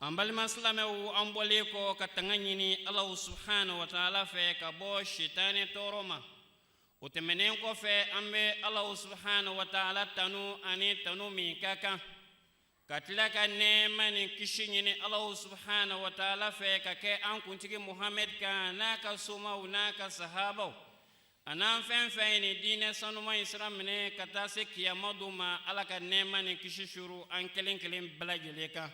an balima silamɛw an bɔlen kɔ ka tanga ɲini alahu subhanahu wa taala fɛ ka bɔ sitanɛ tɔɔrɔ ma o tɛmɛnen kɔfɛ an bɛ alahu subhanahu wa taala tanu ani tanu min ka kan ka tila ka nɛɛma ni kisi ɲini alahu subhanahu wa taala fɛ ka kɛ an kuntigi muhamɛd kan n'a ka somaw n'a ka sahabaw an'an fɛn fɛn ye nin diinɛ sanuman in sira minɛ ka taa se kiyama don ma ala ka nɛɛma ni kisi suuru an kelen kelen bɛɛ lajɛlen kan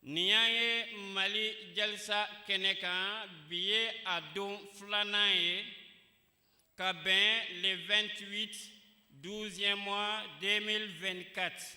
nin y'an ye mali jalisa kɛnɛ kan bi ye a don filanan ye ka bɛn le 28 12e mois 2024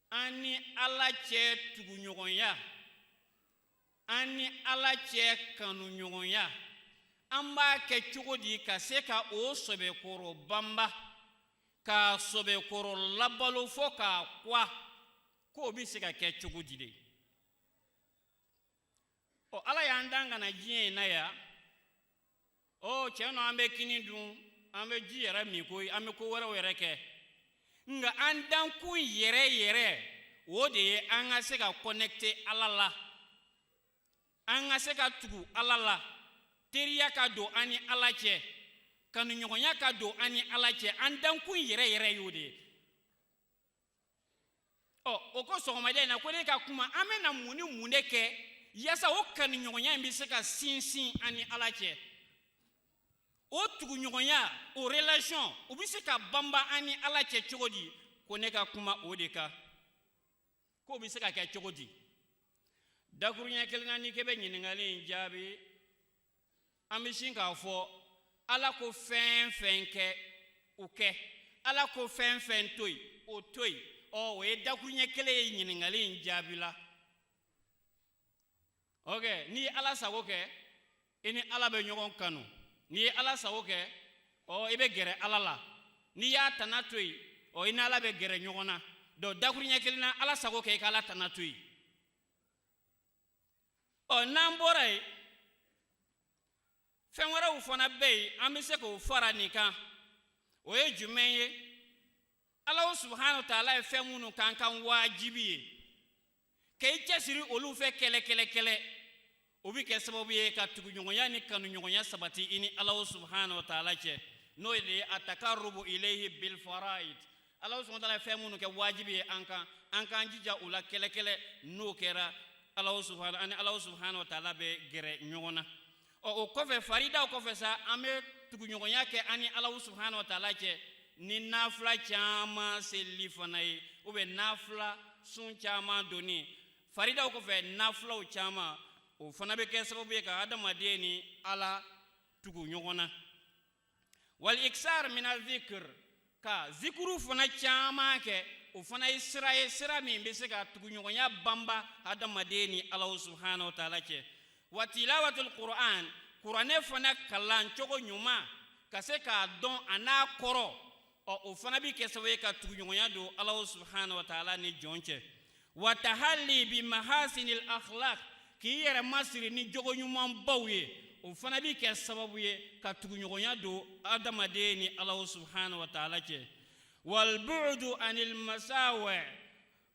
an ni ala cɛ tuguɲɔgɔnya an ni ala cɛ kanuɲɔgɔnya an b'a kɛ cogo di ka se ka o sɔbɛkɔrɔ banba k'a sɔbɛkɔrɔ labalo fɔ k'a kwa k'o bɛ se ka kɛ cogo di de ɔ ala y'an dan ka na diɲɛ in na yan ɔ cɛn don an bɛ kini dun an bɛ ji yɛrɛ min koyi an bɛ ko wɛrɛw yɛrɛ kɛ nka an dankun yɛrɛ yɛrɛ o de ye an ka se ka connecter ala la an ka se ka tugu ala la teriya ka don an ni ala cɛ kanuɲɔgɔnya ka don an ni ala cɛ an dankun yɛrɛ yɛrɛ y'o de ye ɔ u ko sɔgɔmada in na ko ne ka kuma an bɛ na mun ni mun de kɛ yaasa o kanuɲɔgɔnya in bɛ se ka sinsin an ni ala cɛ o tuguɲɔgɔnya o relation o bɛ se ka banba an ni ala cɛ cogo di ko ne ka kuma o de kan k'o bɛ se ka kɛ cogo di dakuruɲɛ kelen na n'i k'e bɛ ɲininkali in jaabi an bɛ sin k'a fɔ ala ko fɛn fɛn kɛ o kɛ ala ko fɛn fɛn to yen o to yen ɔ o ye dakuruɲɛ kelen ye ɲininkali in jaabi la ok n'i ye ala sago kɛ i ni ala bɛ ɲɔgɔn kanu n'i ye ala sago kɛ ɔ i bɛ gɛrɛ ala la n'i y'a tana to yen ɔ i ni ala bɛ gɛrɛ ɲɔgɔn na donc dakuruɲɛ kelen na ala sago kɛ i ka ala tana to yen ɔ n'an bɔra yen fɛn wɛrɛw fana bɛ yen an bɛ se k'o fara nin kan o ye jumɛn ye alahu subhanahu wa taala ye fɛn minnu k'an kan waajibi ye ka i cɛsiri olu fɛ kɛlɛ kɛlɛ kɛlɛ o bɛ kɛ sababu ye ka tuguɲɔgɔnya ni kanuɲɔgɔnya sabati i ni alahu subhanahu wa taala cɛ n'o de ye atakarubu ilayhi bilfaraid ala subahana taala ye fɛn minnu kɛ wajibi ye an kan an k'an jija u la kelen kelen n'o kɛra ala subahana an ni ala subahana wa taala bɛ gɛrɛ ɲɔgɔn na ɔ o kɔfɛ faridaw kɔfɛ sa an bɛ tuguɲɔgɔnya kɛ an ni ala subahana wa taala cɛ ni nafila caman seli fana ye ou bien nafila sun caman donni faridaw kɔfɛ nafilaw caman o fana bɛ kɛ sababu ye ka adamaden ni ala tugu ɲɔgɔn na wal iksar min adh-dhikr ka zikuru fana caman kɛ o fana ye sira ye sira min bɛ se ka tuguɲɔgɔnya banba hadamaden ni Ala subahana wa taala cɛ wa tilawatul qur'an kuranɛ fana kalan cogo ɲuman ka se k'a dɔn a n'a kɔrɔ ɔ o fana bɛ kɛ sababu ye ka tuguɲɔgɔnya don ala subahana wa taala ni jɔn cɛ wa tahalli bi mahasinil akhlaq k'i yɛrɛ masiri ni jogo ɲumanbaw ye o fana bɛ kɛ sababu ye ka tuguɲɔgɔnya don adamaden ni ala subahana wa taala cɛ wal bu'du anil masawi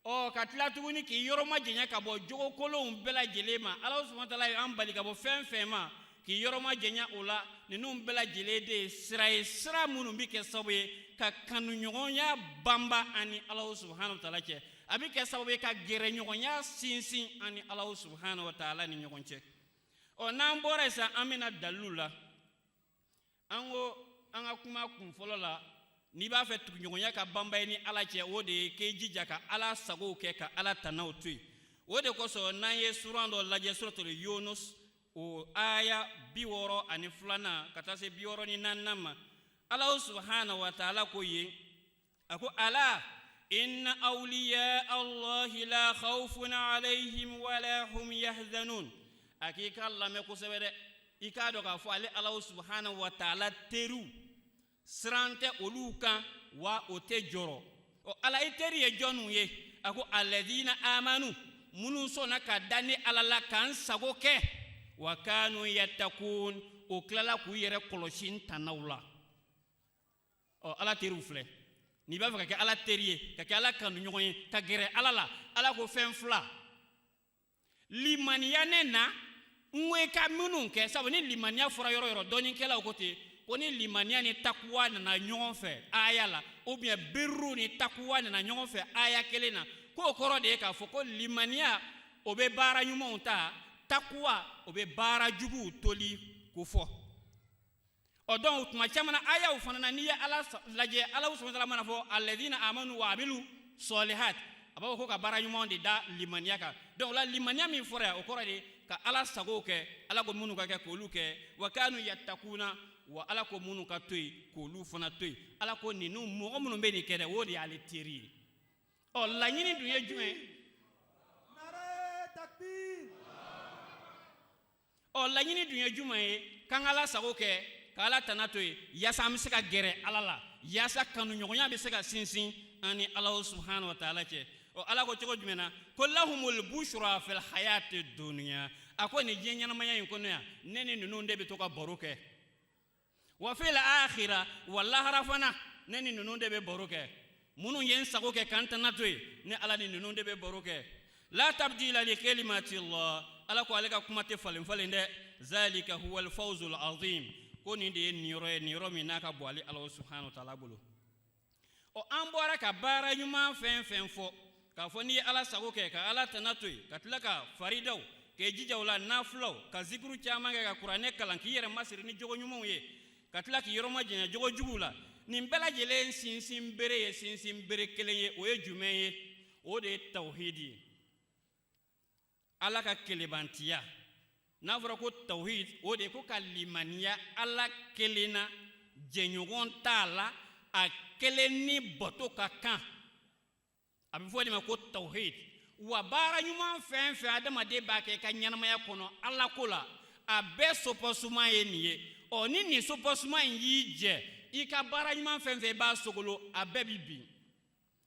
ɔ ka tila tuguni k'i yɔrɔ majanya ka bɔ jogo kolonw bɛɛ lajɛlen ma ala subahana wa taala ye an bali ka bɔ fɛn fɛn ma k'i yɔrɔ majanya o la ninnu bɛɛ lajɛlen de ye sira ye sira minnu bɛ kɛ sababu ye ka kanuɲɔgɔnya banba an ni ala subahana wa taala cɛ a bɛ kɛ sababu ye ka gɛrɛɲɔgɔnya sinsin an ni ala subahana wa taala ni ɲɔgɔn cɛ ɔ n'an bɔra yen sisan an bɛ na dalilu la an ko an ka kuma kun fɔlɔ la n'i b'a fɛ tuguɲɔgɔnya ka banba i ni ala cɛ o de ye k'i jija ka ala sagow kɛ ka ala tanaw to yen o de kosɔn n'an ye suran dɔ lajɛ suratul yunus o aya bi wɔɔrɔ ani filanan ka taa se bi wɔɔrɔ ni naaninan ma ala subahana wa taala ko yen a ko ala inna awliya allahi la khawfun alayhim wala hum yahzanun a k'i k'a lamɛn kosɛbɛ dɛ i k'a dɔn k'a fɔ ale ala subhanahu wa taala teriw siran tɛ olu kan wa u tɛ jɔrɔ ɔ ala i teri ye jɔnw ye a ko alladhina amanu minnu sɔnna ka da ne ala la ka n sago kɛ wa kanu yattaqun u tilala k'u yɛrɛ kɔlɔsi n tanaw la ɔ ala teriw filɛ n'i b'a fɛ ka kɛ ala teri ye ka kɛ ala kanuɲɔgɔn ye ka gɛrɛ ala la ala ko fɛn fila limaniya ne na n ko i ka minnu kɛ sabu ni limaniya fɔra yɔrɔ yɔrɔ dɔnnikɛlaw ko ten ko ni limaniya ni takuwa nana ɲɔgɔn fɛ aya la ou bien birru ni takuwa nana ɲɔgɔn fɛ aya kelen na k'o kɔrɔ de ye k'a fɔ ko limaniya o bɛ baara ɲumanw ta takuwa o bɛ baara juguw toli kofɔ ɔ donc tuma caman na ayaw fana na n'i ye ala lajɛ ala o subahana wa taala mana fɔ alazina amanu wa amilu sɔlihat a b'a fɔ ko ka baara ɲuman de da limaniya kan donc la limaniya min fɔra yan o kɔrɔ de ka ala sago kɛ ala ko minnu ka kɛ k'olu kɛ wa kanu yatakuna wa ala ko minnu ka to yen k'olu fana to yen ala ko ninnu mɔgɔ minnu bɛ nin kɛ dɛ o de y'ale teri ye ɔ laɲini dun ye jumɛn ye ɔ laɲini dun ye jumɛn ye k'an ka ala sago kɛ ka ala tana to yen yaasa an bɛ se ka gɛrɛ ala la yaasa kanuɲɔgɔnya bɛ se ka sinsin an ni ala subahana wa taala cɛ ɔ ala ko cogo jumɛn na ko lahumul bushra fil hayati dunya a ko nin diɲɛ ɲɛnamaya in kɔnɔ yan ne ni ninnu de bɛ to ka baro kɛ wa fil akhira wa lahara fana ne ni ninnu de bɛ baro kɛ minnu ye n sago kɛ ka n tana to yen ne ala ni ninnu de bɛ baro kɛ la tabdila li kalimati llah ala ko ale ka kuma tɛ falen falen dɛ zalika huwal fawzul azim ko nin de ye niyɔrɔ ye niyɔrɔ min n'a ka bon ale ala subhanahu wa taala bolo ɔ an bɔra ka baara ɲuman fɛn fɛn fɔ k'a fɔ n'i ye ala sago kɛ ka ala tana to yen ka tila ka faridaw k'i jija o la nafulaw ka zikuru caman kɛ ka kuranɛ kalan k'i yɛrɛ masiri ni jogo ɲumanw ye ka tila k'i yɔrɔ majanya jogo juguw la nin bɛɛ lajɛlen sinsin bere ye sinsin bere kelen ye o ye jumɛn ye o de ye tawhidi ye ala ka kelenbantiya n'a fɔra ko tawhid o de ko ka limaniya ala kelen na jɛɲɔgɔn t'a la a kelen ni bato ka kan a bɛ fɔ o de ma ko tawhid wa baara ɲuman fɛn fɛn adamaden b'a kɛ i ka ɲɛnamaya kɔnɔ ala ko la a bɛɛ soubassement ye nin ye ɔ ni nin soubassement in y'i jɛ i ka baara ɲuman fɛn fɛn i b'a sogolo a bɛɛ bɛ bin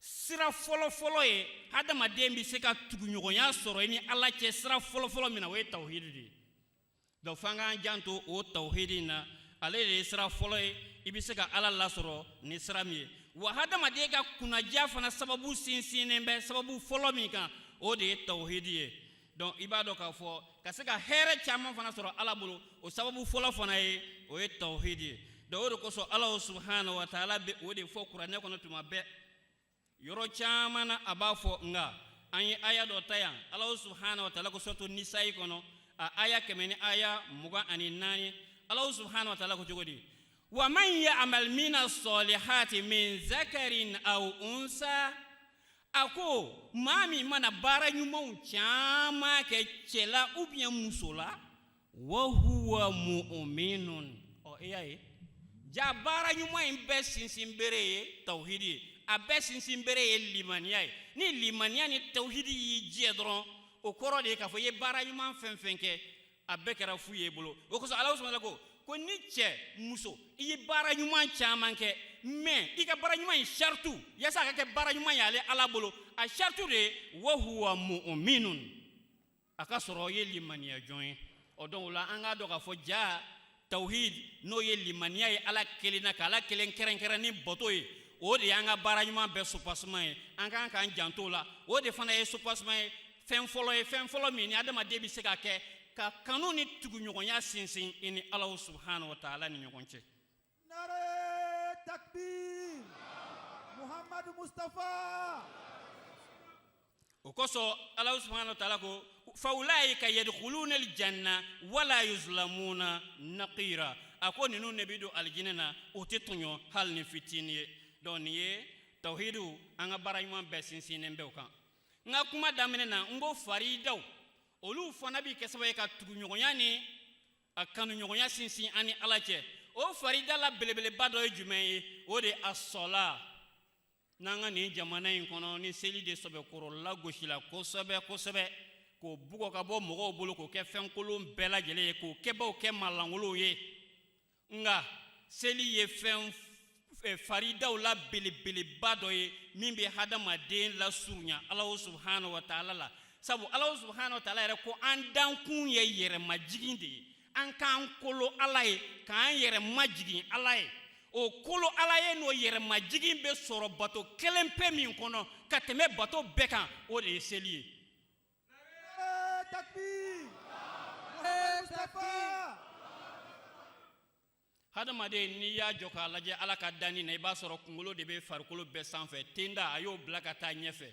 sira fɔlɔfɔlɔ ye hadamaden bɛ se ka tuguɲɔgɔnya sɔrɔ i ni ala cɛ sira fɔlɔfɔlɔ min na o ye tawhidi de ye donc f'an k'an janto o tawhidi in na ale de ye sira fɔlɔ ye i bɛ se ka ala lasɔrɔ ni sira min ye wa hadamaden ka kunnadiya fana sababu sinsinnen bɛ sababu fɔlɔ min kan o de ye tawhidi ye donc i b'a dɔn k'a fɔ ka se ka hɛrɛ caman fana sɔrɔ ala bolo o sababu fɔlɔ fana ye o ye tawhidi ye donc o de kosɔn ala o subahana wa taala bɛ o de fɔ kuranɛ kɔnɔ tuma bɛɛ yɔrɔ caman na a b'a fɔ nka an ye aya dɔ ta yan ala o subahana wa taala ko suratu nisayi kɔnɔ a aya kɛmɛ ni aya mugan ani naani ala o subahana wa taala ko cogo di wa man ya'mal mina sɔlihati min zakarin aw unsa a ko maa min mana baara ɲumanw caman kɛ cɛ la ou bien muso la wa huwa mu'minun ɔ i y'a ye ja baara ɲuman in bɛɛ sinsin bere ye tawhidi ye a bɛɛ sinsin bere ye limaniya ye ni limaniya ni tawhidi y'i jɛ dɔrɔn o kɔrɔ de ye k'a fɔ i ye baara ɲuman fɛn fɛn kɛ a bɛɛ kɛra fu ye bolo o kosɔn ala subahana wa taala ko ko ni cɛ muso i ye baara ɲuman caman kɛ mais i ka baara ɲuman in saritu yasa a ka kɛ baara ɲuman ye ale ala bolo a saritu de ye wa huwa mu'minun a ka sɔrɔ o ye limaniya jɔn ye o donc o la an k'a dɔn k'a fɔ ja tawhid n'o ye limaniya ye ala kelen na ka ala kelen kɛrɛnkɛrɛn ni bato ye o de y'an ka baara ɲuman bɛɛ soubassement ye an kan k'an janto la o de fana ye soubassement ye fɛn fɔlɔ ye fɛn fɔlɔ min ni adamaden bɛ se ka kɛ ka kanu ni tuguɲɔgɔnya sinsin i ni alahu subahana wa taala ni ɲɔgɔn cɛ nare takbir muhamadu mustafa o kosɔn alahu subahana wa taala ko fawulayika yadkhuluna aljanna wala yuzlamuna naqira a ko ninnu de bɛ don alijinɛ na u tɛ tɔɲɔ hali ni fitini ye donc nin ye tawhidu an ka baara ɲuman bɛɛ sinsinnen bɛ o kan n ka kuma daminɛ na n ko faridaw olu fana bɛ kɛ sababu ye ka tuguɲɔgɔnya ni a kanuɲɔgɔnya sinsin an ni ala cɛ o farida la belebeleba dɔ ye jumɛn ye o de ye asɔla n'an ka nin jamana in kɔnɔ ni seli de sɛbɛkɔrɔ lagosila kosɛbɛ kosɛbɛ k'o bugɔ ka bɔ mɔgɔw bolo k'o kɛ fɛnkolon bɛɛ lajɛlen ye k'o kɛbaaw kɛ malankolonw ye nka seli ye fɛn eh, faridaw la belebeleba dɔ ye min bɛ hadamaden lasurunya alahu subahana wa taala la sabu alahu subahana wa taala yɛrɛ ko an dankun ye yɛrɛmajigin de ye an k'an kolo ala ye k'an yɛrɛ majigin ala ye o kolo ala ye n'o yɛrɛ majigin bɛ sɔrɔ bato kelen pe min kɔnɔ ka tɛmɛ bato bɛɛ kan o de ye seli ye hadamaden n'i y'a jɔ k'a lajɛ ala ka danni na i b'a sɔrɔ kunkolo de bɛ farikolo bɛɛ sanfɛ tenda a y'o bila ka taa ɲɛfɛ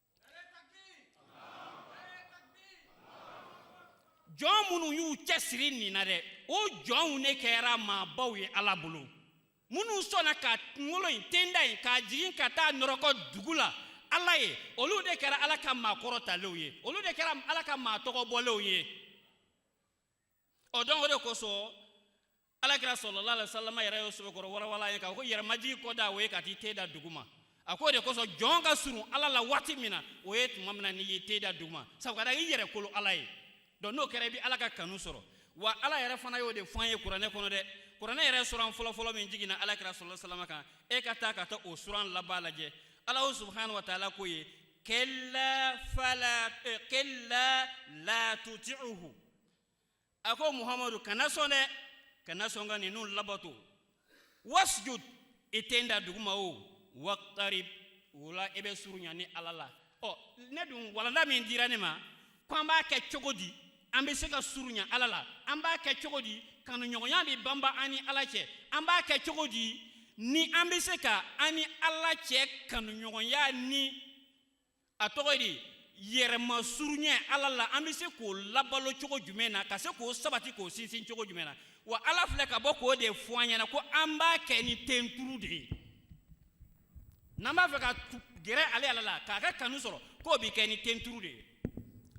jɔn minnu y'u cɛsiri nin na dɛ o jɔnw ne kɛra maabaw ye ala bolo minnu sɔnna ka kunkolo in tenda in k'a jigin ka taa nɔrɔkɔ dugu la ala ye olu de kɛra ala ka maakɔrɔtalenw ye olu de kɛra ala ka maatɔgɔbɔlenw ye o donc o de kosɔn ala kira salalahu alayhi wa salam yɛrɛ y'o sɛbɛkɔrɔ walawala an ye k'a ko yɛrɛmajigin kɔdan o ye ka t'i ten da duguma a ko de kosɔn jɔn ka surun ala la waati min na o ye tuma min na n'i y'i ten da duguma sabu ka da i yɛrɛ kolo ala ye donc n'o kɛra i bɛ ala ka kanu sɔrɔ wa ala yɛrɛ fana y'o de fɔ an ye kuranɛ kɔnɔ dɛ kuranɛ yɛrɛ suran fɔlɔfɔlɔ min jiginna ala kira salalahu alayhi wa salam kan e ka taa ka taa o suran laban lajɛ alahu subahana wa taala k'o ye kalla laa tuti'uhu a ko muhamadu kana sɔn dɛ kana sɔn ka ninnu labato wasjud i ten da duguma o waqtarib o la i bɛ surunya ni ala la ɔ ne dun walanda min dira ne ma ko an b'a kɛ cogo di an bɛ se ka surunya ala la an b'a kɛ cogo di kanuɲɔgɔnya bɛ banba an ni ala cɛ an b'a kɛ cogo di ni an bɛ se ka an ni ala cɛ kanuɲɔgɔnya ni a tɔgɔ di yɛrɛma surunya ala la an bɛ se k'o labalo cogo jumɛn na ka se k'o sabati k'o sinsin cogo jumɛn na wa ala filɛ ka bɔ k'o de fɔ an ɲɛna ko an b'a kɛ ni tenturu de ye n'an b'a fɛ ka gɛrɛ ale ala la k'a ka kanu sɔrɔ k'o bɛ kɛ ni tenturu de ye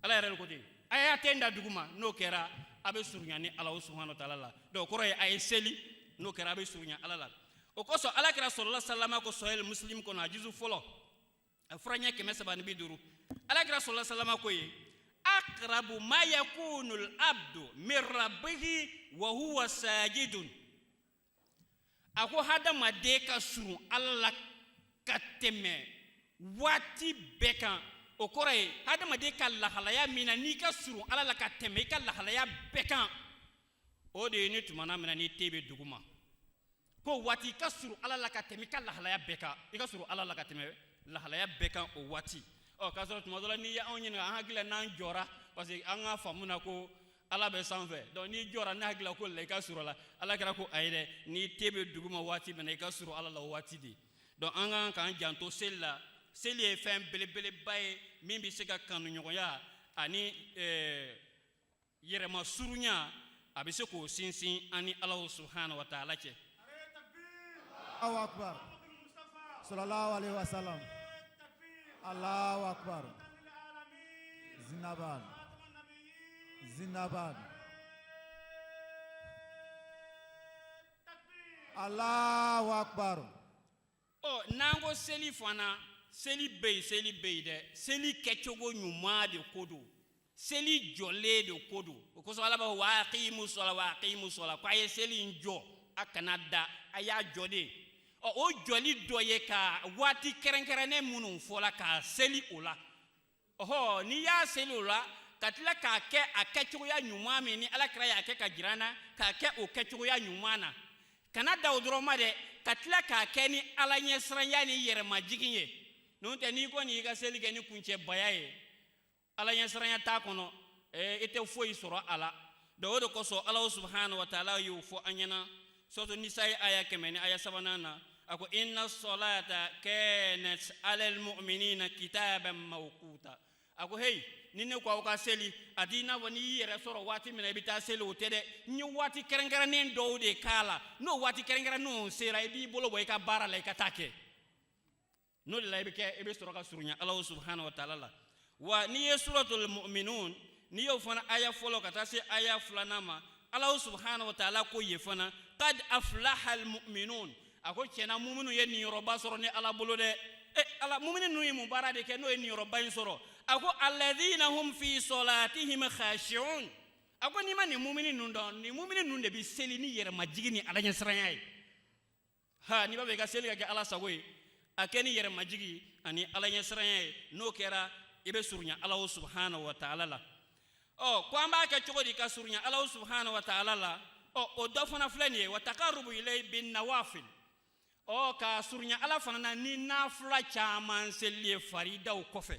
ala yɛrɛ de ko ten a y'a ten da dugu ma n'o kɛra a bɛ surunya ni ala subahana wa taala la donc o kɔrɔ ye a ye seli n'o kɛra a bɛ surunya ala la o kosɔn alakira sallallahu alaihi wasallam ko sahih musilimu kɔnɔ a juzu fɔlɔ a fura ɲɛ kɛmɛ saba ni bi duuru alakira sallallahu alaihi wasallam ko ye akrabu ma yakunul abdu min rabbihi wa huwa sajidun a ko hadamaden ka surun ala la ka tɛmɛ waati bɛɛ kan o kɔrɔ ye hadamaden ka lahalaya min na n'i ka surun ala la ka tɛmɛ i ka lahalaya bɛɛ kan o de ye ni tumana min na n'i ten bɛ dugu ma k'o waati i ka surun ala la ka tɛmɛ i ka lahalaya bɛɛ kan i ka surun ala la ka tɛmɛ lahalaya bɛɛ kan o waati ɔ k'a sɔrɔ tuma dɔ la n'i ye anw ɲininka an hakili la n'an jɔra parce que an ka faamu na ko ala bɛ sanfɛ donc n'i jɔra ne hakili la k'o la i ka surun a la alakira ko ayi dɛ n'i ten bɛ dugu ma waati min na i ka surun ala la o waati de donc an ka kan k'an janto seli la seli ye fɛn belebeleba ye min bɛ se ka kanuɲɔgɔnya ani eh, yɛrɛma surunya a bɛ se k'o sinsin an ni ala subahana wa taala cɛ sala ala zinaba zinaba ala ɔ n'an ko seli fana seli bɛ yen seli bɛ yen dɛ seli kɛcogo ɲuman de ko don seli jɔlen de ko don o kosɔn ala b'a fɔ wa aqimu sɔla wa aqimu sɔla ko a ye seli in jɔ a kan'a da a y'a jɔ dɛ ɔ o jɔli dɔ ye ka waati kɛrɛnkɛrɛnnen minnu fɔla ka seli o la ɔhɔ n'i y'a seli o la ka tila k'a kɛ a kɛcogoya ɲuman min ni ala kira y'a kɛ ka jira an na k'a kɛ o kɛcogoya ɲuman na kana dan o dɔrɔn ma dɛ ka tila k'a kɛ ni ala ɲɛsiranya ni yɛrɛmajigin ye n'o tɛ n'i kɔni y'i ka seli kɛ ni kuncɛbaya ye ala ɲɛsiranya t'a kɔnɔ i tɛ foyi sɔrɔ a la donc o de kosɔn ala subahana wa taala y'o fɔ an ɲɛna suratu nisa ye aya kɛmɛ ni aya sabanan na a ko inna salata kanat alal mu'minina kitaban mawquta a ko heyi ni ne ko aw ka seli a t'i n'a fɔ n'i y'i yɛrɛ sɔrɔ waati min na i bɛ taa seli o tɛ dɛ n ye waati kɛrɛnkɛrɛnnen dɔw de k'a la n'o waati kɛrɛnkɛrɛnnenw sera i b'i bolo bɔ i ka baara la i ka taa kɛ n'o de la i bɛ kɛ i bɛ sɔrɔ ka surunya ala subahana wa taala la wa n'i ye suratul mu'minun n'i y'o fana aya fɔlɔ ka taa se aya filanan ma ala subahana wa taala ko ye fana qad aflaha al mu'minun a ko tiɲɛna muminu ye niyɔrɔba sɔrɔ ne ala bolo dɛ e ala mumini ninnu ye mun baara de kɛ n'o ye niyɔrɔba in sɔrɔ a ko alladhina hum fi salatihim khashi'un a ko n'i ma nin mumini ninnu dɔn nin mumini ninnu de bɛ seli ni yɛrɛmajigi ni ala ɲɛsiranya ye ha n'i b'a fɛ i ka seli ka kɛ ala sago ye a kɛ ni yɛrɛmajigi ani ala ɲɛsiranya ye n'o kɛra i bɛ surunya alahu subahana wa taala la ɔ ko an b'a kɛ cogo di ka surunya alahu subahana wa taala la ɔ o dɔ fana filɛ nin ye wa taqarrubu ilayhi bin nawafil ɔ ka surunya ala fana na ni nafila caman seli ye faridaw kɔfɛ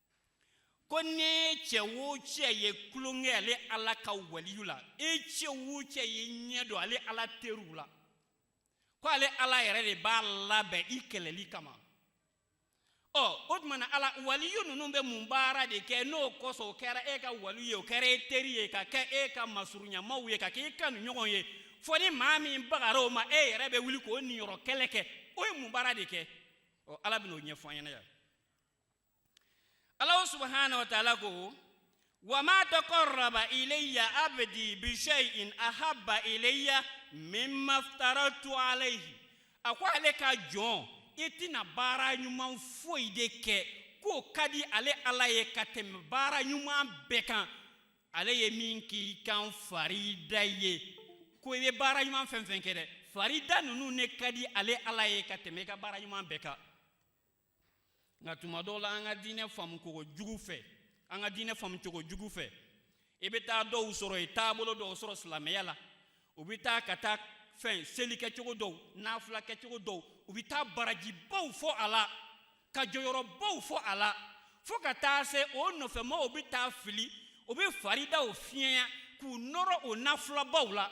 ko n'e cɛ wo cɛ ye tulon kɛ ale ala ka waliyu la e cɛ wo cɛ ye ɲɛ don ale ala teriw la ko ale ala yɛrɛ de b'a labɛn i kɛlɛli kama ɔ o tuma na ala waliyu ninnu bɛ mun baara de kɛ n'o kosɔn o kɛra e ka waliyu ye o kɛra e teri ye ka kɛ e ka masurunyamaw ye ka kɛ e kanuɲɔgɔn ye fɔ ni maa min bagara o ma e yɛrɛ bɛ wuli k'o niyɔrɔ kɛlɛ kɛ o ye mun baara de kɛ ɔ ala bɛn'o ɲɛfɔ an ɲɛna yan Ala subahana wa taala ko wa ma taqarraba ilayya abdi bi shay'in ahabba ilayya mimma iftaradtu alayhi a ko ale ka jɔn i tɛna baara ɲuman foyi de kɛ k'o ka di ale ala ye ka tɛmɛ baara ɲuman bɛɛ kan ale ye min k'i kan farida ye ko i bɛ baara ɲuman fɛn fɛn kɛ dɛ farida ninnu ne ka di ale ala ye ka tɛmɛ i ka baara ɲuman bɛɛ kan nka tuma dɔw la an ka diinɛ faamu cogo jugu fɛ an ka diinɛ faamu cogo jugu fɛ i bɛ taa dɔw sɔrɔ ye taabolo dɔw sɔrɔ silamɛya la u bɛ taa ka taa fɛn seli kɛcogo dɔw nafila kɛcogo dɔw u bɛ taa barajibaw fɔ a la ka jɔyɔrɔbaw fɔ a la fo ka taa se o nɔfɛmaaw bɛ taa fili u bɛ faridaw fiɲɛya k'u nɔrɔ o nafilabaw la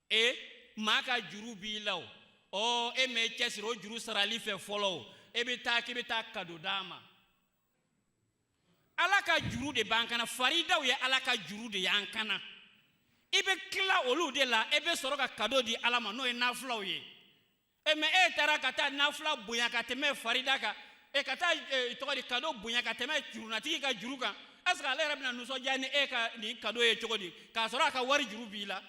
e maa ka juru b'i la o ɔ e m'i cɛsiri o juru sarali fɛ fɔlɔ o e bɛ taa k'i bɛ taa kado d'a ma ala ka juru de b'an kan na faridaw ye ala ka juru de y'an kan na i bɛ tila olu de la e bɛ sɔrɔ ka kado di ala ma n'o ye nafilaw ye e mɛ e taara ka taa nafila bonya ka tɛmɛ farida kan e ka taa e, cogo di kado bonya ka tɛmɛ jurunatigi ka juru kan est ce que ale yɛrɛ bɛna nisɔndiya ni e ka nin kado ye cogo di k'a sɔrɔ a ka wari juru b'i la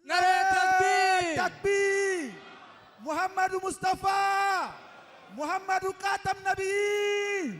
nare takbir takbir muhammadu mustafa muhammadu katam nabi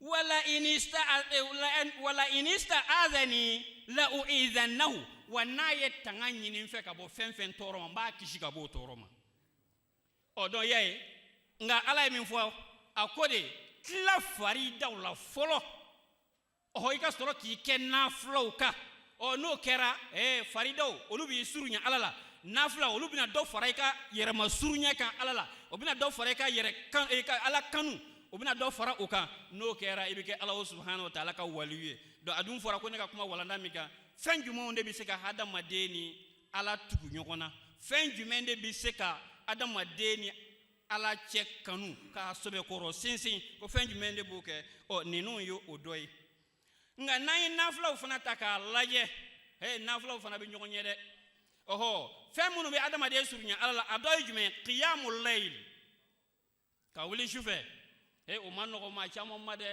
wala inista eh, wala inista azani la uizannahu wa n'a ye tanga ɲini n fɛ ka bɔ fɛn fɛn tɔɔrɔ ma n b'a kisi ka bɔ o tɔɔrɔ ma ɔ donc i y'a ye nka ala ye min fɔ a ko de tila faridaw la fɔlɔ ɔ i ka sɔrɔ k'i kɛ nafilaw kan ɔ n'o kɛra eh, faridaw olu b'i surunya ala la nafila olu bɛna dɔ fara i ka yɛrɛma surunya kan ala la o bɛna dɔ fara i ka yɛrɛ kan i ka ala kanu o bɛna dɔ fara o kan n'o kɛra i bɛ kɛ ala subahana wa taala ka waliyu ye donc a dun fɔra ko ne ka kuma walanda min kan fɛn jumɛnw de bɛ se ka hadamaden ni ala tugu ɲɔgɔn na fɛn jumɛn de bɛ se ka hadamaden ni ala cɛ kanu k'a sɛbɛkɔrɔ sinsin ko fɛn jumɛn de b'o kɛ ɔ ninnu ye o dɔ ye nka n'an ye nafulaw fana ta k'a lajɛ he nafulaw fana bɛ ɲɔgɔn ɲɛ dɛ ɔhɔ fɛn minnu bɛ hadamaden surunya ala la a dɔ ye jumɛn ye kiyamu layili ka wuli sufɛ e o ma nɔgɔ maa caman ma dɛ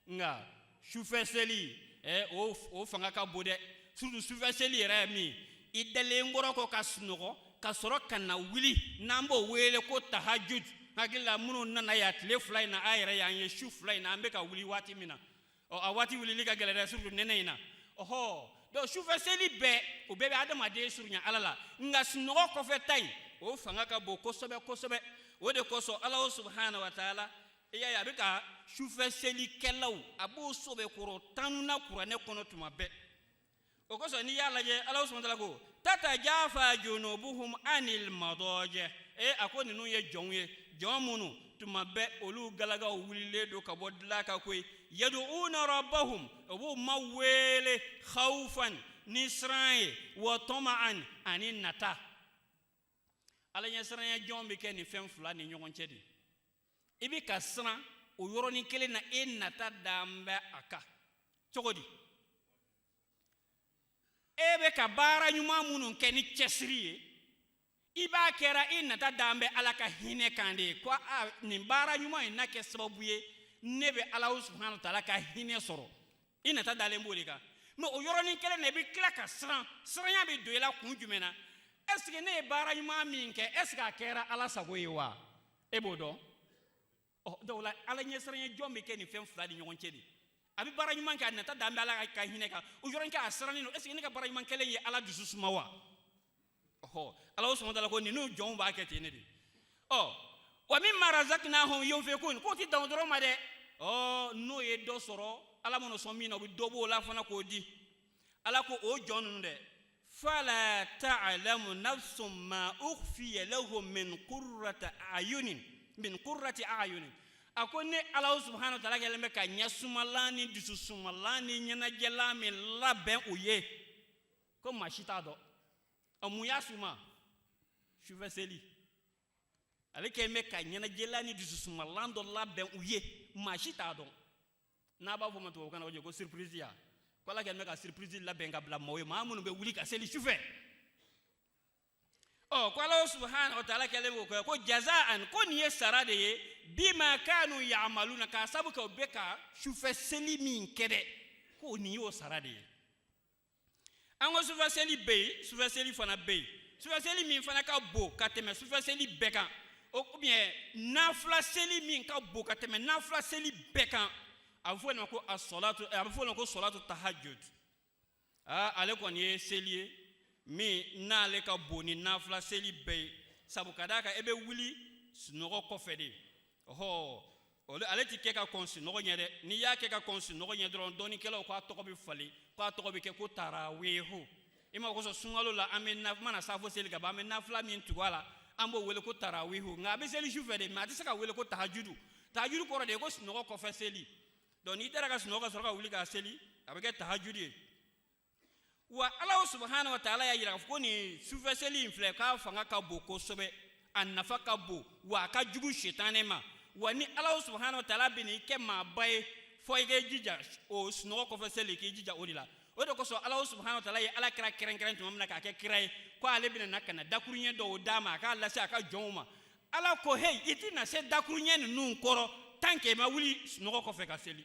nka sufɛ seli e o o fanga ka bon dɛ surtout sufɛ seli yɛrɛ ye min i dalen kɔrɔ kɔ ka sunɔgɔ ka sɔrɔ ka na wuli n'an b'o wele ko tahajud hakili la minnu nana yan tile fila in na a yɛrɛ y'an ye su fila in na an bɛ ka wuli waati min na ɔ a waati wulili ka gɛlɛn dɛ surtout nɛnɛ in na ɔhɔ donc sufɛ seli bɛɛ o bɛɛ bɛ adamaden surunya ala la nka sunɔgɔ kɔfɛ ta in o fanga ka bon kosɛbɛ kosɛbɛ o de kosɔn ala subahana wa taala i y'a ye a bɛ ka sufɛ selikɛlaw a b'o sɛbɛkɔrɔ tanu na kuranɛ kɔnɔ tuma bɛɛ o kosɔn n'i y'a lajɛ ala subahana taala ko tatajafa junubuhum anil madɔjɛ ee a ko ninnu ye jɔnw ye jɔn minnu tuma bɛɛ olu galagaw wulilen don ka bɔ dilan kan koyi yaduuna rabbahum o b'u ma wele khawfan ni siran ye wa tɔma'an ani nata ala ɲɛsiranya jɔn bɛ kɛ nin fɛn fila ni ɲɔgɔn cɛ de i bɛ ka siran o yɔrɔnin kelen na e nata dan bɛ a kan cogo di e bɛ ka baara ɲuman minnu kɛ ni cɛsiri ye i b'a kɛra i nata dan bɛ ala ka hinɛ kan de ye ko a nin baara ɲuman in na kɛ sababu ye ne bɛ ala subahana taala ka hinɛ sɔrɔ i nata dalen b'o de kan mɛ o yɔrɔnin kelen na i bɛ tila ka siran siranya bɛ don i la kun jumɛn na ɛseke ne ye baara ɲuman min kɛ ɛseke a kɛra ala sago ye wa e b'o dɔn ɔ donc la ala ɲɛsiranya jɔn bɛ kɛ nin fɛn fila ni ɲɔgɔn cɛ de a bɛ baara ɲuman kɛ a nata dalen bɛ ala ka hinɛ kan o yɔrɔnin kelen a sirannen don est-ce que ne ka baara ɲuman kɛlen ye ala dusu suma wa ɔhɔ ala subhanahu wa ta'ala ko ninnu jɔnw b'a kɛ ten ne de ɔ wa mimma razaqnahum yunfiqun k'o tɛ dan o dɔrɔn ma dɛ ɔ n'o ye dɔ sɔrɔ ala man'o sɔn min na o bɛ dɔ b'o la fana k'o di ala ko o jɔn ninnu dɛ fala ta'lamu nafsun ma ukhfiya lahum min qurrati ayunin a ko ne ala subhanahu wa ta'ala kɛlen bɛ ka ɲɛ sumalan ni dusu sumalan ni ɲɛnajɛlan min labɛn u ye ko maa si t'a dɔn a mun y'a suma sufɛ seli ale kɛlen bɛ ka ɲɛnajɛlan ni dusu sumalan dɔ labɛn u ye maa si t'a dɔn n'a b'a fɔ ma tubabukan na o ko surprise ya ko ala kɛlen bɛ ka surprise labɛn ka bila maaw ye maa minnu bɛ wuli ka seli sufɛ ɔ ko ala subahana wa taala kɛlen bɛ k'o kɛ ko jazaan ko nin ye sara de ye bima kanu yamaluna k'a sabu kɛ u bɛ ka sufɛ seli min kɛ dɛ ko nin y'o sara de ye an ko sufɛseli bɛ yen sufɛseli fana bɛ yen sufɛseli min fana ka bon ka tɛmɛ sufɛseli bɛɛ kan ou bien nafila seli min ka bon ka tɛmɛ nafila seli bɛɛ kan a bɛ fɔ o de ma ko a sɔlatu a bɛ fɔ o de ma ko sɔlatu tahajud aa ale kɔni ye seli ye min n'ale ka bon ni nafila seli bɛɛ ye sabu ka d'a kan e bɛ wuli sunɔgɔ kɔfɛ de ɔhɔ ale ti kɛ ka kɔn sunɔgɔ ɲɛ dɛ n'i y'a kɛ ka kɔn sunɔgɔ ɲɛ dɔrɔn dɔnnikɛlaw k'a tɔgɔ bɛ falen k'a tɔgɔ bɛ kɛ ko taraweho i m'a kɔlɔsi sunkalo la an mana safo seli ka ban an bɛ nafila min tugu a la an b'o wele ko taraweho nka a bɛ seli su fɛ de mais a tɛ se ka wele ko tahajudu tahajudu kɔrɔ de ye ko sunɔgɔ kɔfɛ seli donc n'i taara ka sunɔgɔ ka sɔrɔ ka wuli ka seli a bɛ kɛ tahajudu ye wa ala subahana wa taala y'a jira ko nin sufɛ seli in filɛ k'a fanga ka bon kosɛbɛ a nafa ka bon wa a ka jugu sitanɛ ma wa ni ala subahana wa taala bɛn'i kɛ maaba ye fo i k'i jija o sunɔgɔ kɔfɛ seli k'i jija o de la o de kosɔn ala subahana wa taala ye ala kira kɛrɛnkɛrɛn tuma min na k'a kɛ kira ye ko ale bɛna na ka na dakuruɲɛ dɔw d'a ma a k'a lase a ka jɔnw ma ala ko heyi i tɛna se dakuruɲɛ ninnu kɔrɔ tant que i ma wuli sunɔgɔ kɔfɛ ka seli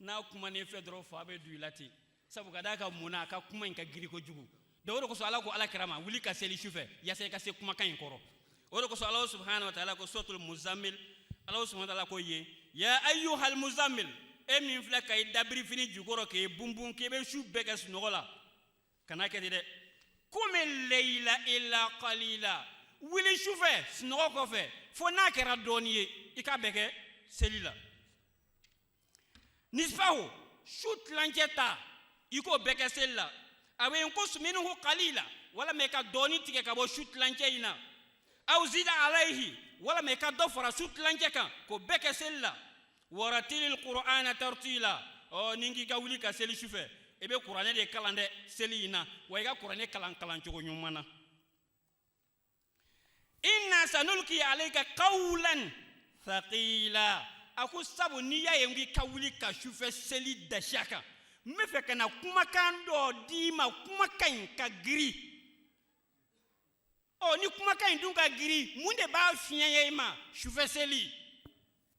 n'a kumana i fɛ dɔrɔn fa bɛ don i la ten sabu ka d'a kan mun na a ka kuma in ka giri kojugu donc o de kosɔn ala ko ala kira ma wuli ka seli sufɛ yasa i ka se kumakan in kɔrɔ o de kosɔn ala subhanahu wa taala ko suratul muzammil ala subhanahu wa taala ko yen ya ayyuhal muzammil e min filɛ ka i dabiri fini jukɔrɔ k'e bunbun k'e bɛ su bɛɛ kɛ sunɔgɔ la kana kɛ ten dɛ qumil layla illa qalila wuli sufɛ sunɔgɔ kɔfɛ fo n'a kɛra dɔɔni ye i k'a bɛɛ kɛ seli la nisfahu su tilancɛ ta i k'o bɛɛ kɛ seli la awinqus minhu qalila walama i ka dɔɔni tigɛ ka bɔ su tilancɛ in na aw zida alayhi walama i ka dɔ fara su tilancɛ kan k'o bɛɛ kɛ seli la waratilil qur'ana tartila ɔ ni n k'i ka wuli ka seli su fɛ i bɛ kuranɛ de kalan dɛ seli in na wa i ka kuranɛ kalan kalan cogo ɲuman na inna sanulqi alayka qawlan thaqila a ko sabu n'i y'a ye n k'i ka wuli ka sufɛ seli dasiya kan n bɛ fɛ ka na kumakan dɔ d'i ma kumakan in ka giri ɔ ni kumakan in dun ka giri mun de b'a fiɲɛya i ma sufɛ seli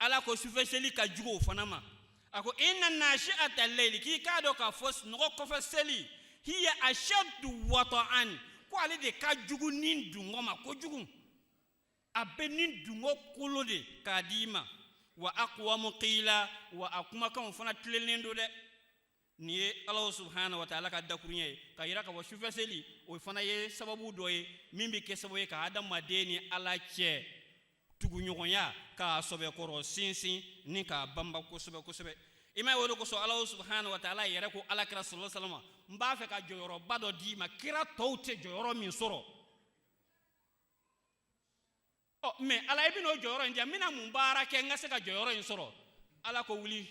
ala ko sufɛseli ka jugu o fana ma a ko inna nashi'ata layli k'i k'a dɔn k'a fɔ sunɔgɔ kɔfɛ seli hiya ashaddu wata'an ko ale de ka jugu ni dungɔ ma kojugu a bɛ ni dungɔ kolo de k'a di i ma wa aqwamu qila wa a kumakanw fana tilelen don dɛ nin ye alahu subahana wa taala ka dakuruɲɛ ye k'a yira k'a fɔ sufɛ seli o fana ye sababu dɔ ye min bɛ kɛ sababu ye ka adamaden ni ala cɛ tuguɲɔgɔnya k'a sɔbɛkɔrɔ sinsin ni k'a banba kosɛbɛ kosɛbɛ i m'a ye o de kosɔn alahu subahana wa taala yɛrɛ ko ala kira sɔlɔ salama n b'a fɛ ka jɔyɔrɔba dɔ d'i ma kira tɔw tɛ jɔyɔrɔ min sɔrɔ ɔ mɛ ala i bɛn'o jɔyɔrɔ in di n ma n bɛna mun baara kɛ n ka se ka jɔyɔrɔ in sɔrɔ ala ko wuli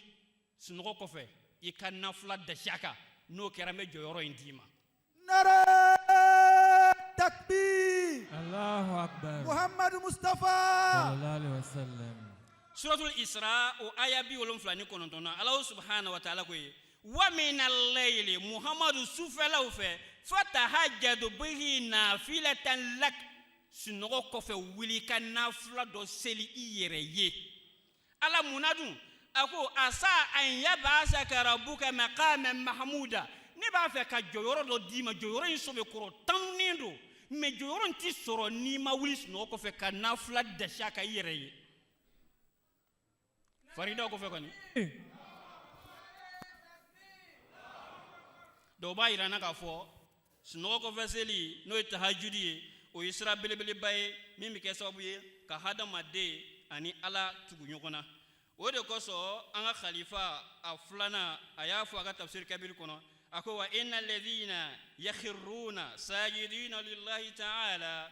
sunɔgɔ kɔfɛ i ka nafila dasi a kan n'o kɛra n bɛ jɔyɔrɔ in d'i ma nara takbir alahu akbar muhammadu mustafa sallallahu alaihi wasallam suratul isra o aya bi wolonfila ni kɔnɔntɔn na ala subahana wa taala ko ye wa mina layili muhamadu sufɛlaw fɛ fatahajadu bihi nafilatan lak sunɔgɔ kɔfɛ wuli ka nafila dɔ seli i yɛrɛ ye ala munna dun a ko asa an yab'asaka rabbuka maqama mahmuda ne b'a fɛ ka jɔyɔrɔ dɔ d'i ma jɔyɔrɔ in sɔbɛkɔrɔ tanunen don mɛ jɔyɔrɔ in tɛ sɔrɔ n'i ma wuli sunɔgɔ kɔfɛ ka nafila dasi a ka i yɛrɛ ye Faridaw kɔfɛ kɔni dɔw b'a yira an na k'a fɔ sunɔgɔ kɔfɛ seli n'o ye tahajudi ye o ye sira belebeleba ye min bɛ kɛ sababu ye ka hadamaden ani ala tugu ɲɔgɔn na o de kosɔn an ka khalifa a filanan a y'a fɔ a ka tafsiri kabiri kɔnɔ a ko wa inna alladhina yakhirruna sajidina lillahi ta'ala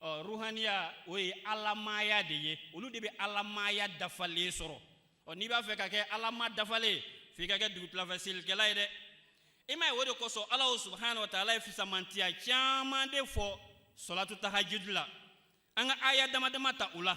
ɔ ruhaniya o ye alamaaya de ye olu de bɛ alamaaya dafalen sɔrɔ ɔ n'i b'a fɛ ka kɛ alamaa dafalen f'i ka kɛ dugutilafɛ selikɛla ye dɛ i m'a ye o de kosɔn alahu subahana wa taala ye fisamantiya caman de fɔ sɔlatu tahajudi la an ka aya dama dama ta o la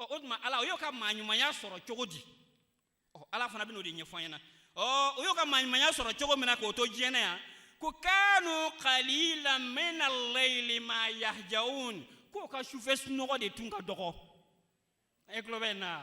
ɔ o tuma ala o y'o ka maaɲumanya sɔrɔ cogo di ɔ ala fana bɛn'o de ɲɛfɔ an ɲɛna ɔ o y'o ka maaɲumanya sɔrɔ cogo min na k'o to diɲɛ na yan ko kanu qalilan min al-layli ma yahjaun k'o ka sufɛ sunɔgɔ de tun ka dɔgɔ e tulo bɛ n na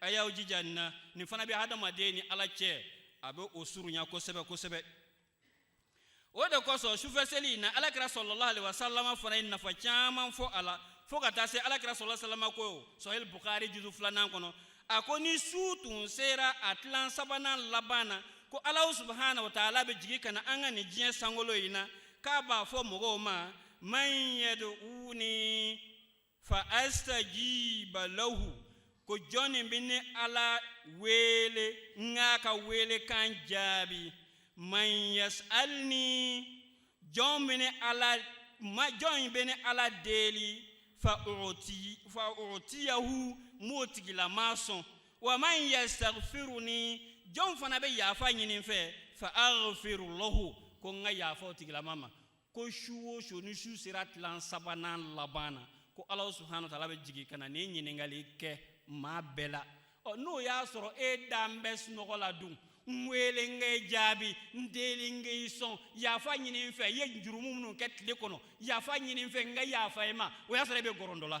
a y'aw jija nin na nin fana bɛ hadamaden ni ala cɛ a bɛ o surunya kosɛbɛ kosɛbɛ o de kosɔn sufɛ seli in na alakira sallallahu alayhi wa salama fana ye nafa caman fɔ a la fo ka taa se alakira sallallahu alayhi wa salama ko sahihil bukhari juzu filanan kɔnɔ a ko ni su tun sera a tilan sabanan laban na ko alahu subahana wa taala bɛ jigin ka na an ka nin diɲɛ sankolo in na k'a b'a fɔ mɔgɔw ma man yad'uni fa astajiba lahu ko jɔnni bɛ ne ala wele n k'a ka wele kan jaabi man yasalni jɔn bɛ ne ala ma jɔn bɛ ne ala deli fa uti fa utiyahu m'o tigilamaa sɔn wa man yastaghfiruni jɔn fana bɛ yafa ɲini n fɛ fa aghfiru lahu ko n ka yafa o tigilamaa ma ko su o su ni su sera tilan sabanan laban na ko ala subahana wa taala bɛ jigin ka na nin ɲininkali kɛ maa bɛɛ la ɔ n'o y'a sɔrɔ e dan bɛ sunɔgɔ la dun n wele n ka i jaabi n deli n ka i sɔn yafa ɲini n fɛ i ye jurumu minnu kɛ tile kɔnɔ yafa ɲini n fɛ n ka yafa i ma o y'a sɔrɔ e bɛ gɔrɔndɔ la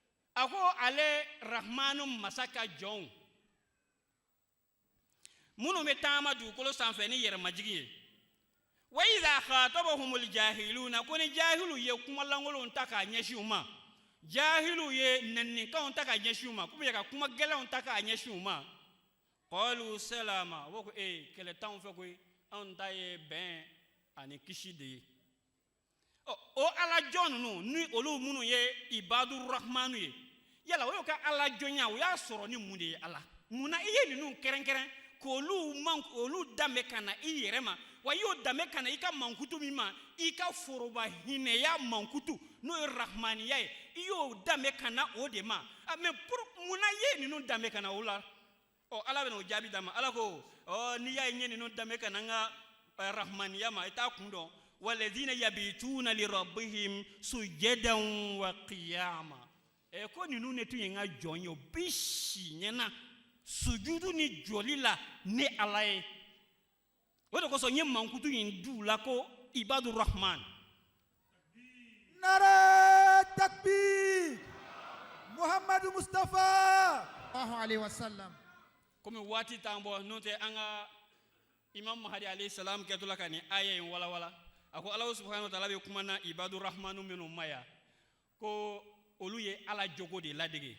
a ko ale rahmanu masa ka jɔnw minnu bɛ taama dugukolo sanfɛ ni yɛrɛmajigin ye wa iza khatabahumul jahiluna ko ni jahilu ye kuma lankolonw ta k'a ɲɛsin u ma jahilu ye nɛninikanw ta k'a ɲɛsin u ma k'u bɛ ka kuma gɛlɛnw ta k'a ɲɛsin u ma qalu salama u ko ee kɛlɛ t'anw fɛ koyi anw ta ye bɛn ani kisi de ye ɔ o alajɔn ninnu ni olu minnu ye ibadu rahmanu ye yala o y'o ka alajɔnya o y'a sɔrɔ ni mun de ye ala mun na i ye ninnu kɛrɛnkɛrɛn k'olu olu danbe ka na i yɛrɛ ma wa i y'o danbe ka na i ka mankutu min ma i ka foroba hinɛya mankutu n'o ye rahmaniya ye i y'o danbe ka na o de ma ah, mais pour mun na i ye ninnu danbe ka na o la ɔ ala bɛna o jaabi d'an ma ala ko ɔ n'i y'a ye n ye ninnu danbe ka na n ka eh, rahmaniya ma i t'a kun dɔn walazina yabituna lirabbihim sujadan wa qiyama ɛ eh, ko ninnu ne tun ye n ka jɔn ye o bi si ɲɛna sujudu ni jɔli la ne ala ye o de kosɔn n ye mankutu in d'u la ko ibadu rahman nare takbir muhamadu mustafa sallallahu alaihi wasallam komi waati t'an bolo n'o tɛ an ka imam mahadi alayhi salam kɛtɔla ka nin aya in walawala a ko alahu subhanahu wa taala bɛ kuma na ibadu rahmanu minnu ma yan ko olu ye ala jogo de ladege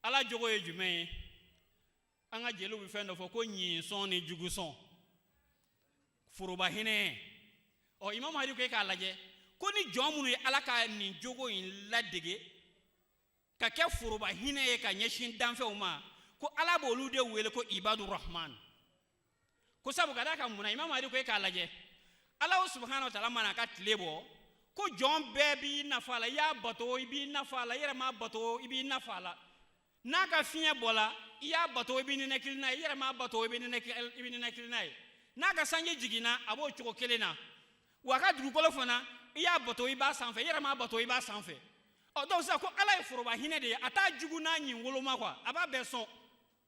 ala jogo ye jumɛn ye an ka jeliw bɛ fɛn dɔ fɔ ko ɲinsɔn ni jugusɔn foroba hinɛ ɔ imam mahadi ko e k'a lajɛ ko ni jɔn minnu ye ala ka nin jogo in ladege ka kɛ foroba hinɛ ye ka ɲɛsin danfɛnw ma ko ala b'olu de wele ko ibadu rahman ko sabu ka da ka munna imam mahadi ko e k'a lajɛ ala subhanahu wa taala man'a ka tile bɔ ko jɔn bɛɛ b'i nafa la i y'a bato i b'i nafa la i yɛrɛ m'a bato i b'i nafa la n'a ka fiɲɛ bɔla i y'a bato i b'i ninakili n'a ye i yɛrɛ m'a bato i b'i ninakili n'a ye n'a ka sanji jiginna a b'o cogo kelen na wa a ka dugukolo fana i y'a bato i b'a sanfɛ i yɛrɛ m'a bato i b'a sanfɛ ɔ donc sisan ko ala ye foroba hinɛ de ye a t'a jugu n'a ɲin woloma kwa a b'a bɛɛ sɔn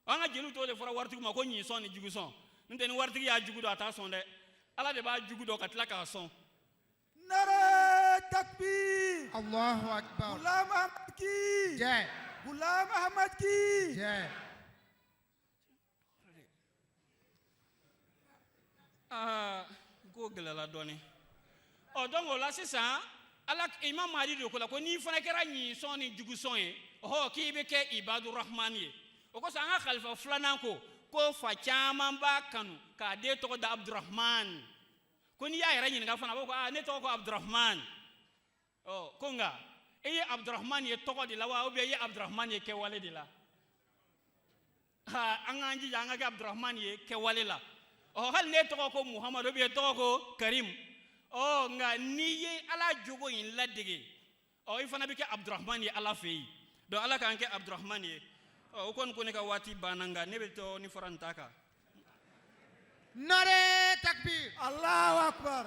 an ka jeliw t'o de fɔra waritigi ma ko ɲinsɔn ni jugusɔn n'o tɛ ni waritigi y'a jugu dɔn a t'a sɔn dɛ ala de b'a jugu dɔn ka tila k'a sɔn nare takbir allahu akbar gulam ahmad ki jɛ gulam ahmad ki jɛ aa n k'o gɛlɛla dɔɔnin ɔ donc o la sisan ala imam mahadi de ko la ko n'i fana kɛra ɲinsɔn ni jugusɔn ye ɔhɔ k'i bɛ kɛ ibadurahmani ye o kosɔn an ka kalifa filanan ko ko fa caman b'a kanu k'a den tɔgɔ da abdurahman ko n'i y'a yɛrɛ ɲininka fana a b'a fɔ ko aa ne tɔgɔ ko abdurahman ɔ ko nka e ye abudurahmani ye tɔgɔ de la wa ubiyɛn e ye abudurahmani ye kɛwale de la an k'an jija an ka kɛ abudurahmani ye kɛwale la ɔ hali n'e tɔgɔ ko muhamadu ubiyɛn e tɔgɔ ko karimu ɔ nka n'i ye ala jogo in ladege ɔ i fana bɛ kɛ abudurahmani ye ala fɛ yen donc ala k'an kɛ abudurahmani ye ɔ o kɔni ko ne ka waati banna nka ne bɛ dɔɔnin fara n ta kan nare takbir allahu akbar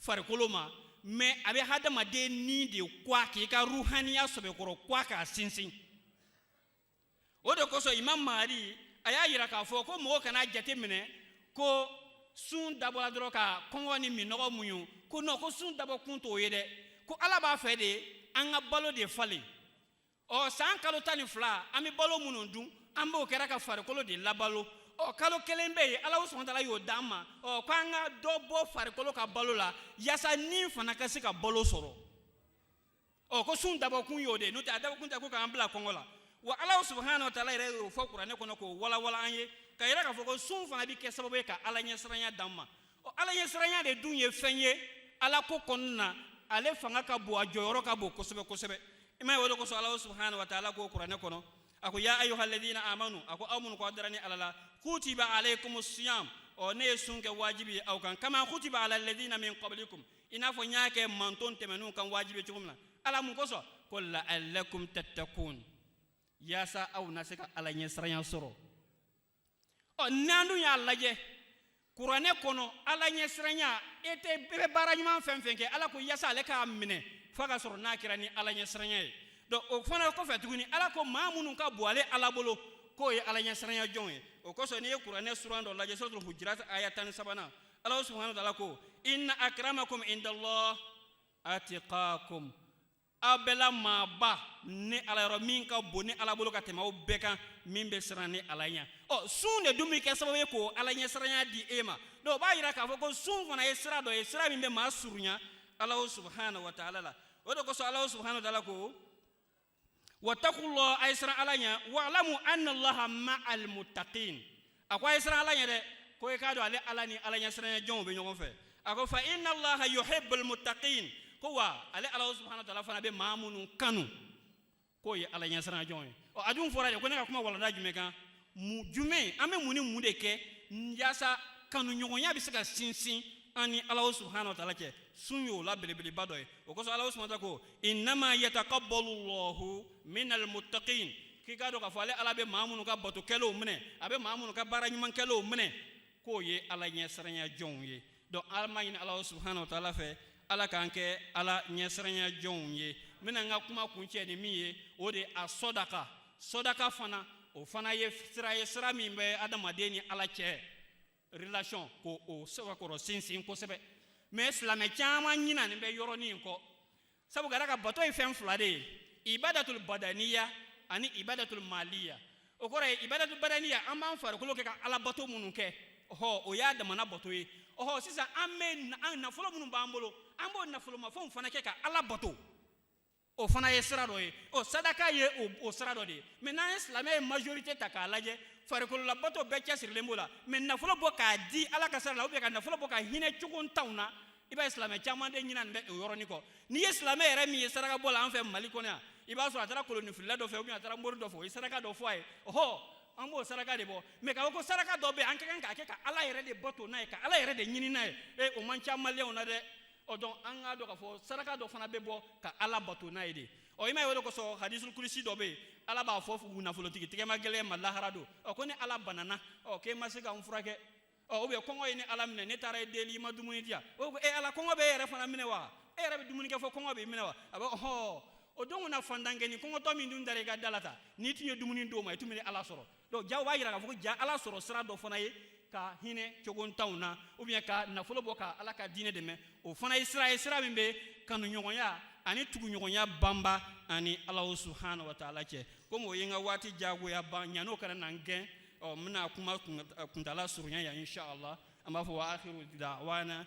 farikolo ma mɛ a bɛ hadamaden ni de kwa k'i ka ruhaniya sɔbɛkɔrɔ kwa k'a sinsin o de kosɔn imam mahadi a y'a yira k'a fɔ ko mɔgɔ kana jate minɛ ko sun dabɔla dɔrɔn ka kɔngɔ ni minnɔgɔ muɲu ko non ko sun dabɔ kun t'o ye dɛ ko ala b'a fɛ de an ka balo de falen ɔ san kalo tan ni fila an bɛ balo minnu dun an b'o kɛra ka farikolo de labalo ɔ kalo kelen bɛ yen ala subahana wa taala y'o d'an ma ɔ ko an ka dɔ bɔ farikolo ka balo la yaasa ni fana ka se ka balo sɔrɔ ɔ ko sun dabɔkun y'o de n'o tɛ a dabɔkun tɛ ko k'an bila kɔngɔ la wa ala subahana wa taala yɛrɛ y'o fɔ kuranɛ kɔnɔ k'o walawala an ye k'a yira k'a fɔ ko sun fana bɛ kɛ sababu ye ka ala ɲɛsiranya d'an ma ɔ ala ɲɛsiranya de dun ye fɛn ye ala ko kɔnɔna na ale fanga ka bon a jɔyɔrɔ ka bon kosɛbɛ kosɛbɛ i ma ye o de kosɔn ala subahana wa taala ko kuranɛ kɔnɔ a ko ya ayuha alladina amanu a ko aw minnu k'aw dara ni ala la kutiba alaykum siyam ɔ ne ye sun kɛ wajibi ye aw kan kama kutiba ala alladina min qablikum i n'a fɔ n y'a kɛ manton tɛmɛnenw kan wajibi cogo min na ala mun kosɔn ko la'allakum tattakun yaasa aw na se ka ala ɲɛsiranya sɔrɔ ɔ n'an dun y'a lajɛ kuranɛ kɔnɔ ala ɲɛsiranya e de bɛ baara ɲuman fɛn fɛn kɛ ala ko yaasa ale k'a minɛ f'a k'a sɔrɔ n'a kɛra ni ala ɲɛsiranya ye donc o fana kɔfɛ tuguni ala ko maa minnu ka bon ale ala bolo k'o ye ala ɲɛsiranya jɔnw ye o kosɔn n'i ye kuranɛ suran dɔ lajɛ suratul hujurat aya tan ni sabanan ala subhanahu wa taala ko inna akramakum indallah atqakum aw bɛɛ la maaba ni ala yɔrɔ min ka bon ni ala bolo ka tɛmɛ aw bɛɛ kan min bɛ siran ni ala ɲɛ ɔ sun de dun bɛ kɛ sababu ye k'o ala ɲɛsiranya di e ma donc o b'a yira k'a fɔ ko sun fana ye sira dɔ ye sira min bɛ maa surunya ala subahana wa taala la o de kosɔn ala subahana wa taala ko wattaqullah a ye siran ala ɲɛ wa'lamu anna allaha ma'al muttaqin a ko a ye siran ala ɲɛ dɛ ko i k'a dɔn ale ala ni ala ɲɛsiranya jɔnw bɛ ɲɔgɔn fɛ a ko fa inna allaha yuhibbul muttaqin ko wa ale ala subhanahu wa ta'ala fana bɛ maa minnu kanu k'o ye ala ɲɛsiranya jɔnw ye ɔ a dun fɔra de ko ne ka kuma walanda jumɛn kan mu jumɛn an bɛ mun ni mun de kɛ yaasa kanuɲɔgɔnya bɛ se ka sinsin an ni ala subhanahu wa ta'ala cɛ sun y'o la belebeleba dɔ ye o kosɔn ala subhanahu wa ta'ala ko innama yataqabbalu Allahu minal muttaqin k'i k'a dɔn k'a fɔ ale ala bɛ maa minnu ka bato kɛlenw minɛ a bɛ maa minnu ka baara ɲuman kɛlenw minɛ k'o ye ala ɲɛsiranya jɔnw ye donc an b'a ɲini ala subahana wa taala fɛ ala k'an kɛ ala ɲɛsiranya jɔnw ye n bɛna n ka kuma kuncɛ ni min ye o de a sɔdaka sɔdaka fana o fana ye sira ye sira min bɛ adamaden ni ala cɛ relation k'o sɛbɛkɔrɔ sinsin kosɛbɛ mais silamɛ caman ɲinanen bɛ yɔrɔnin in kɔ sabu ngala ka bato ye fɛn fila de ye ibadatul badaniya ani ibadatul maliya o kɔrɔ ye ibadatul badaniya an b'an farikolo kɛ ka ala bato minnu kɛ ɔhɔ o y'a damana bato ye ɔhɔ sisan an bɛ nafolo minnu b'an bolo an b'o nafolomafɛnw fana kɛ ka ala bato o fana ye sira dɔ ye o sadaka ye o sira dɔ de ye mais n'an ye silamɛ ye majorité ta k'a lajɛ farikololabato bɛɛ cɛsirilen b'o la mais nafolo bɔ k'a di ala ka sira la ou bien ka nafolo bɔ ka hinɛ cogontanw na i b'a ye silamɛ caman de ɲinanen bɛ o yɔrɔnin kɔ n'i ye silamɛ yɛrɛ min ye saraka bɔ la an fɛ mali kɔnɔ yan i b'a sɔrɔ a taara kolonifilila dɔ fɛ ou bien a taara mori dɔ fɛ o ye saraka dɔ fɔ a ye ɔhɔ an b'o saraka de bɔ mais k'a fɔ ko saraka dɔ bɛ yen an ka kan k'a kɛ ka ala yɛrɛ de bato n'a ye ka ala yɛrɛ de ɲini n'a ye ee o man ca maliyɛnw na dɛ ɔ donc an k'a dɔn k'a fɔ saraka dɔ fana bɛ bɔ ka ala bato n'a ye de ɔ i m'a ye o de kosɔn hadisul kudusi dɔ bɛ yen ala b'a fɔ nafolotigi tɛgɛmagɛlɛn ma lahara don ɔ ko ne ala banana ɔ k'e ma se ka n furakɛ ɔ ou bien kɔngɔ ye ne ala minɛ ne taara i deli i ma dumuni di yan o ko e ala kɔngɔ bɛ e yɛrɛ fana minɛ wa e yɛrɛ bɛ dumuni kɛ fo kɔngɔ b'i minɛ wa a bɛ hɔɔ o don kunna faantankɛnin kɔngɔtɔ min tun dara i ka da la ta n'i tun ye dumuni d'o ma i tun bɛ ne ala sɔrɔ donc ja o b'a yira k'a fɔ ko ja ala sɔrɔ sira dɔ fana ye ka hinɛ cogontanw na ou bien ka nafolo bɔ ka ala ka diinɛ dɛmɛ o fana ye sira ye sira min bɛ kanuɲɔgɔnya ani tuguɲɔgɔnya banba an ni alahu subhanahu wa taala cɛ komi o ye n ka waati jagoya ban ɲan'o kana na n gɛn ɔ n bɛna kuma kuntala surunya yan inshallah an b'a fɔ wa akhiru da'wana